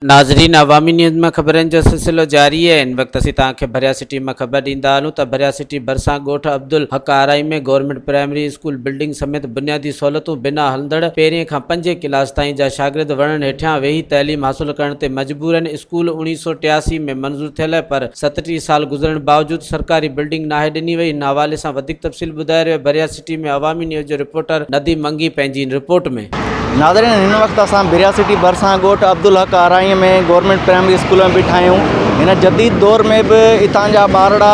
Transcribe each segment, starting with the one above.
ناظرين عوامي نيوز مان خبرن جو سلسلو جاري آهي ان وقت اسين توهان کي ڀريا سٽي مان خبر ڏيندا هلون ته ڀريا سٽي ڀرسان ڳوٺ Abdul Haq Arain ۾ government primary school building سميت بنيادي سهولتون بنا هلندڙ پهرين کان پنجين ڪلاس تائين جا شاگرد وڻن هيٺيان ويهي تعليم حاصل ڪرڻ تي مجبورن اسڪول اوڻيهه سؤ ٽياسي ۾ منظور ٿيل پر ستٽيهه سال گذرڻ باوجود سرڪاري بلڊنگ ناهي ڏني وئي هن حوالي سان وڌيڪ تفصيل ٻڌائي رهيو بريا سٽي ۾ عوامي نيوز جو رپورٽر نديم منگي پنهنجي رپورٽ ۾. ناظرين هن وقت اسان بريا سٽي ڀرسان ڳوٺ عبدالحق آرائيء ۾ گورنمينٽ پرائمري اسڪول ۾ بيٺا آهيون هن جديد دور ۾ به اتان جا ٻارڙا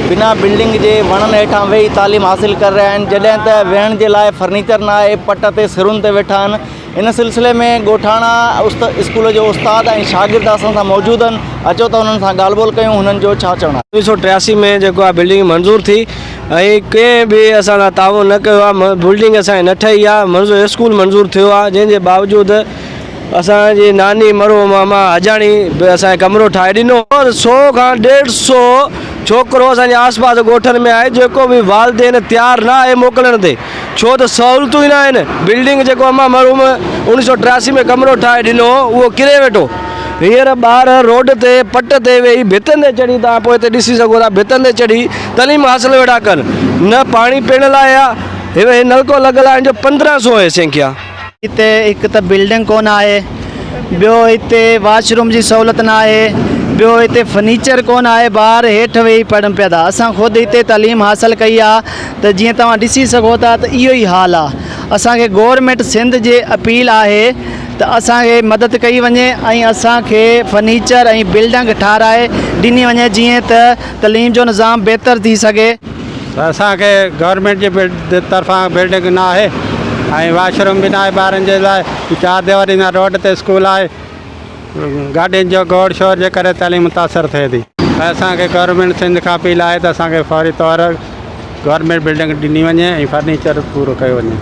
بنا بلڊنگ جي وڻن هيٺان ويهي تعليم حاصل ڪري رهيا آهن جڏهن ته ويهڻ جي لاء فرنيچر ناهي پٽ تي سرن تي ويٺا آهن ان سلسلي ۾ ڳوٺاڻا اسڪول جو استاد ۽ شاگرد اسان سان موجود آهن اچو ته انهن سان ڳالهه ٻولهه ڪيون هنن جو ڇا چوڻ آهي. اوڻيھ سؤ ٽياسي ۾ جيڪو آ بلڊنگ منظور ٿي ۽ ڪنهن به اسان سان تعاون نه ڪيو آ بلڊنگ اسان جي نه ٺهي آ منظور اسڪول منظور ٿيو آ جنهن جي باوجود اسان جي ناني مرحوم ماما حجاڻي به اسان کي ڪمرو ٺاهي ڏنو ۽ سؤ کان ڏيڍ سؤ ڇوڪرو اسان جي آس پاس ڳوٺن ۾ آهي جيڪو به والدين تيار نه آهي موڪلڻ تي. ڇو ته سهولتون ئي ناهن. بلڊنگ جيڪو امان مرحوم اوڻيهه سؤ ٽياسي ۾ ڪمرو ٺاهي ڏنو هو، اهو ڪري ويٺو. هينئر ٻار روڊ تي پٽ تي ويهي ڀتين تي چڙهي توهان پوء هتي ڏسي سگهو ٿا ڀتن تي چڙهي تعليم حاصل ويٺا ڪن. نه پاڻي پيئڻ لاء آهي. هي نلڪو لڳل آهن جو پندرهن سو آهي سينکيا. هتي هڪ ته بلڊنگ ڪونه آهي، ٻيو هتي واش روم جي سهولت نه آهي، ٻيو هتي فرنيچر ڪونه آهي، ٻار هيٺ ويهي پڙهن پيا ٿا، اسان خود هتي تعليم حاصل ڪئي آهي ته جيئن توهان ڏسي سگهو ٿا ته اهو ئي حال آهي، اسان کي گورنمينٽ سنڌ جي اپيل آهي ته اسان کي مدد ڪئي وڃي ۽ اسان کي فرنيچر ۽ بلڊنگ ٺهرائي ڏني وڃي جيئن ته تعليم جو نظام بهتر ٿي سگهي. اسان کي گورنمينٽ جي طرفان بلڊنگ نه آهي ۽ واش روم به نه آهي ٻارن جي لاء چار ديواري سان روڊ تي اسڪول آهي گاڏين جو گوڙ شور جي ڪري تعليم متاثر ٿئي ٿي اسان کي گورنمينٽ سنڌ کان اپيل آهي ته اسان کي فوري طور گورنمينٽ بلڊنگ ڏني وڃي ۽ فرنيچر پورو ڪيو وڃي.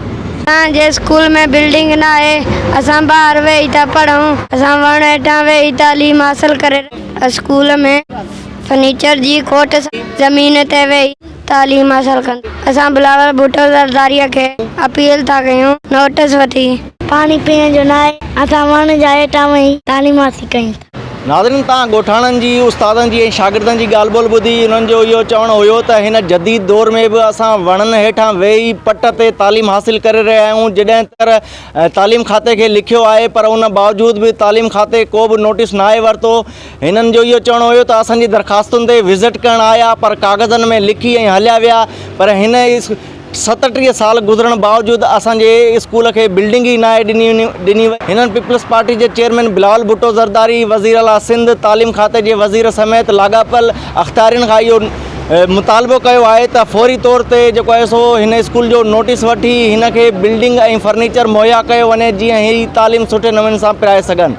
اسان جي اسڪول ۾ بلڊنگ نه آهي اسان ٻاهر ويهي ٿا پڙهون اسان وڻ هيٺان ويهي تعليم حاصل ڪري رهيا آهيون اسڪول ۾ فرنيچر جي کوٽ سان زمين تي ويهي تعليم حاصل ڪن اسان بلاول ڀٽو زرداريء کي اپيل ٿا ڪيون نوٽس وٺي پاڻي پيئڻ جو ناهي اسان وڻ جا هيٺان ويهي تعليم حاصل ڪيون ٿا. ناظرين تان ڳوٺاڻن جي استادن جي ۽ شاگردن جي ڳالهه ٻولهه ٻڌي انهن جو اهو چوڻ هيو ته هن جديد دور ۾ به اسان وڻن هيٺان ويهي پٽ تي تعليم حاصل ڪري رهيا آهيون جڏهن ته تعليم کاتي کي لکيو آهي پر ان باوجود به تعليم کاتي ڪو به نوٽس ناهي ورتو هنن جو اهو چوڻ هيو ته اسان جي درخواستن تي وزٽ ڪرڻ آيا پر ڪاغذن ۾ لکي ۽ هليا ويا پر هن ستٽيهه سال گذرڻ باوجود اسان جي اسڪول کي بلڊنگ ئي ناهي ڏني وئي. هنن پيپلز پارٽي جي چيئرمين بلاول ڀٽو زرداري، وزير اعليٰ سنڌ، تعليم کاتي جي وزير سميت لاڳاپيل اختيارين کان اهو مطالبو ڪيو آهي ته فوري طور تي جيڪو آهي سو هن اسڪول جو نوٽيس وٺي هن کي بلڊنگ ۽ فرنيچر مهيا ڪيو وڃي جيئن هي تعليم سٺي نموني سان پرائي سگهن.